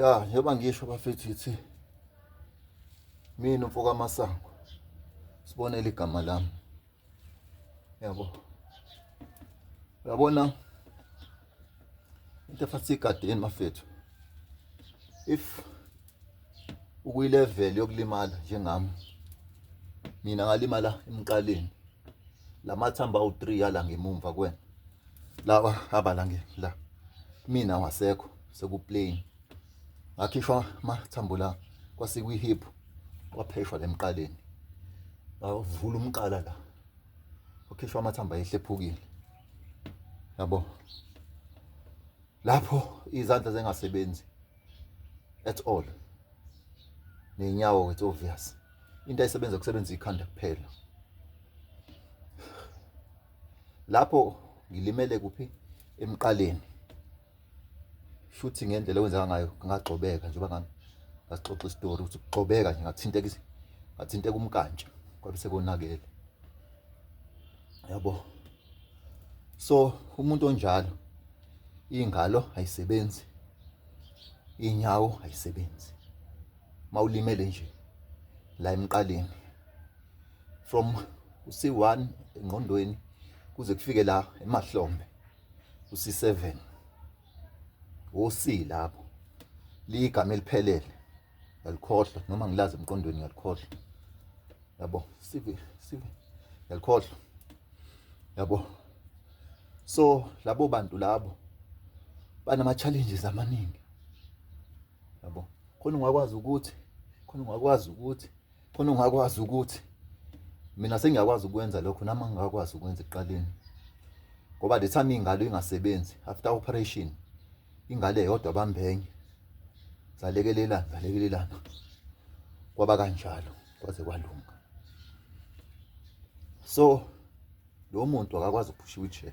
ya njengoba ngisho bafethu yithi mina umfo kamasango sibonele igama lami yabo uyabona into efathi igadeni mafethu if ukuyilevel yokulimala njengami mina ngalimala emqaleni lamathambo awu3 yala ngemumva kwena lawa abala nge la mina wasekho sekuplain ngakhishwa amathambo la kwasikwi hip kwapheshwa lemqaleni bavula umqala la wakhishwa amathambo ayehlephukile yabo lapho izandla zengasebenzi at all nenyawo it's obvious into ayisebenza kusebenza ikhanda kuphela lapho ngilimele kuphi emqaleni shuthi ngendlela okwenzeka ngayo ngagxobeka njengoba ngami ngasixoxa isitori ukuthi kugxobeka nje ngathinteka ngathinteka umkantsha kwabe sekonakele yabo so umuntu onjalo ingalo ayisebenzi inyawo ayisebenzi mawulimele nje la emqaleni from uC1 engqondweni kuze kufike la emahlombe uC7 woC lapho ligama eliphelele yalikhohlwa noma ngilazi emqondweni yalikhohlwa yabo sivi sivi yalikhohlwa yabo so labo bantu labo banama challenges amaningi yabo khona ungakwazi ukuthi khona ungakwazi ukuthi khona ungakwazi ukuthi mina sengiyakwazi ukwenza lokho nami angikakwazi ukwenza ekuqaleni ngoba the time ingalo ingasebenzi after operation ingale yodwa bambenye zalekelelana zalekelelana kwaba kanjalo kwaze kwalunga so lo muntu akakwazi ukuphusha wheelchair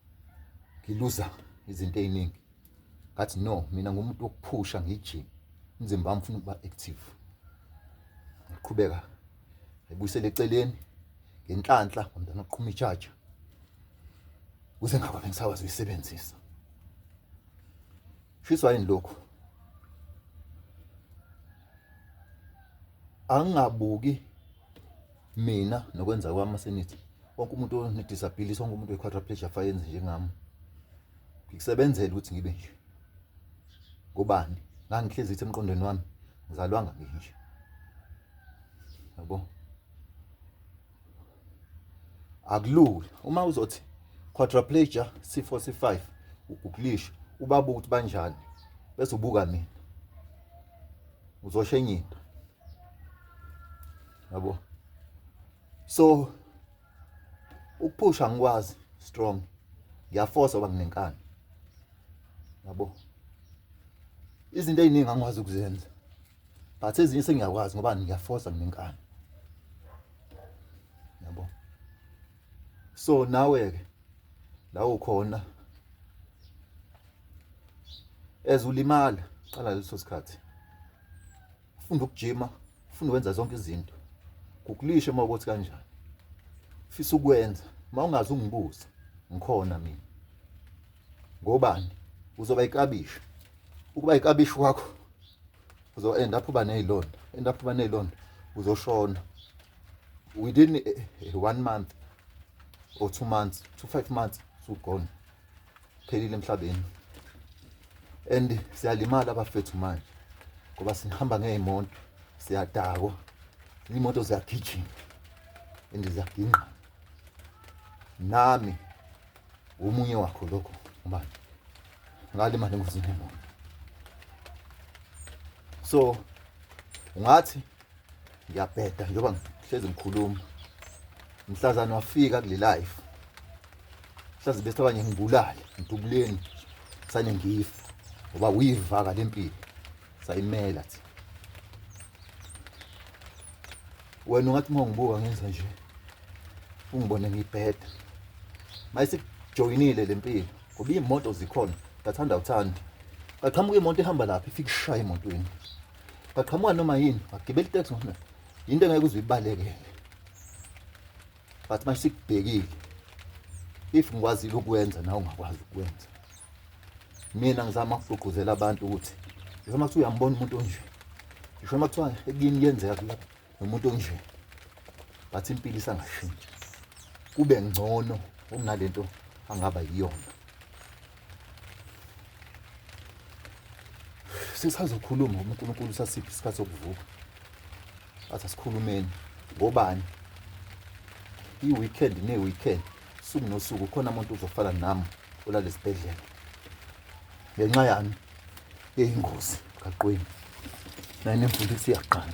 ngiluza izinto eziningi ngathi no mina ngumuntu wokuphusha ngijime umzimba wami ufuna ukuba active ngiqhubeka ebuyisele eceleni ngenhlanhla ngomntana oqhuma ijaja kuze ngaba bengisakwazi uyisebenzisa Shiswa yini lokhu? Angingabuki mina nokwenza kwami senithi wonke umuntu onedisability wonke umuntu we-quadriplegia fayenze njengami ngikusebenzele ukuthi ngibe nje ngobani ngangihlezi ithi emqondweni wami ngizalwanga nginje yabo akulula uma uzothi quadriplegia c4 c5 ugugulisha ubabuka ukuthi banjani bese ubuka mina uzosho enye into yabo so ukuphusha ngikwazi strong ngiyafosa oba nginenkani yabo izinto eziningi angikwazi ukuzenza but ezinye sengiyakwazi ngoba ngiyafosa nginenkani yabo so nawe ke la ukhona ezulimala qala leso sikhathi funda ukujima funda wenza zonke izinto kukulishe uma ukuthi kanjani fisa ukwenza uma ungazi ungibuza ngikhona mina ngobani uzoba ikabishi ukuba ikabishi wakho uzo end up uba nezilonda end up uba nezilonda uzoshona within eh, eh, one month or two months two five months sugone phelile emhlabeni and siyalimala abafethu manje ngoba sihamba ngeyimoto siyadakwa imoto ziyagijima and ziyagingqa nami Omunye wakho lokho ubani? Ngalimala engozini yemoto. So ungathi ngiyabheda njengoba ngihlezi ngikhuluma. Mhlazana wafika kule life. Mhlazi bese abanye ngibulale, ngidubuleni sane ngifa ngoba uyivaka lempilo. sayimela thi wena ungathi uma ungibuka ngenza nje ungibone ngibheda mayisijoyinile le mpilo ngoba iy'moto zikhona ngathanda uthandi kaqhamuka imoto ihamba lapho ifike ishaya emotweni kaqhamuka noma yini wagibela iteksi ngona yinto engeke uze uyibalekele but manje sikubhekile if ngikwazile ukwenza nawe ungakwazi ukwenza mina ngizama ukugqugquzela abantu ukuthi ngisho uma kuthiwa uyambona umuntu onje ngisho uma kuthiwa ekini kuyenzeka kulapha nomuntu onje but impilo isangashintshi kube ngcono kunalento angaba yiyona sisazokhuluma ngoba uNkulunkulu usasiphi isikhathi sokuvuka athi asikhulumeni ngobani i-weekend ne-weekend suku nosuku khona umuntu uzofana nami olale sibhedlela ngenxa yami yeyingozi kaqweni naye nemfundisi iyaqala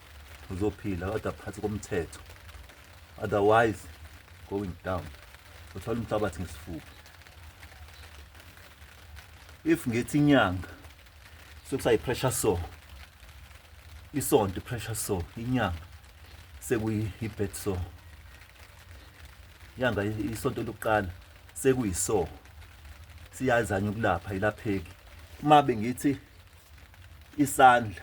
uzophila kodwa phansi komthetho otherwise going down uthola umhlabathi ngesifuba if ngithi inyanga sokusayi pressure so isonto pressure so inyanga sekuyi bed so inyanga isonto lokuqala sekuyi so siyazanya ukulapha ilapheki uma bengithi isandla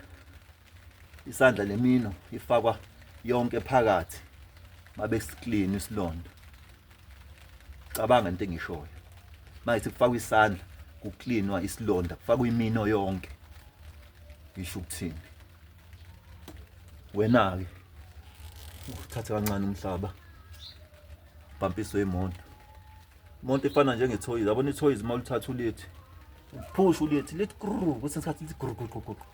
isandla nemino ifakwa yonke phakathi mabe clean isilonda cabanga into engishoyo manje kufakwa isandla kucleanwa isilonda kufakwa imino yonke isho ukuthini wena ke uthathe kancane umhlaba bhampiso yemoto umuntu efana njengethoyizi yabona ithoyizi uma ulithatha ulithi uphusha ulithi lithi grrr kwesinye isikhathi lithi grrr grrr grrr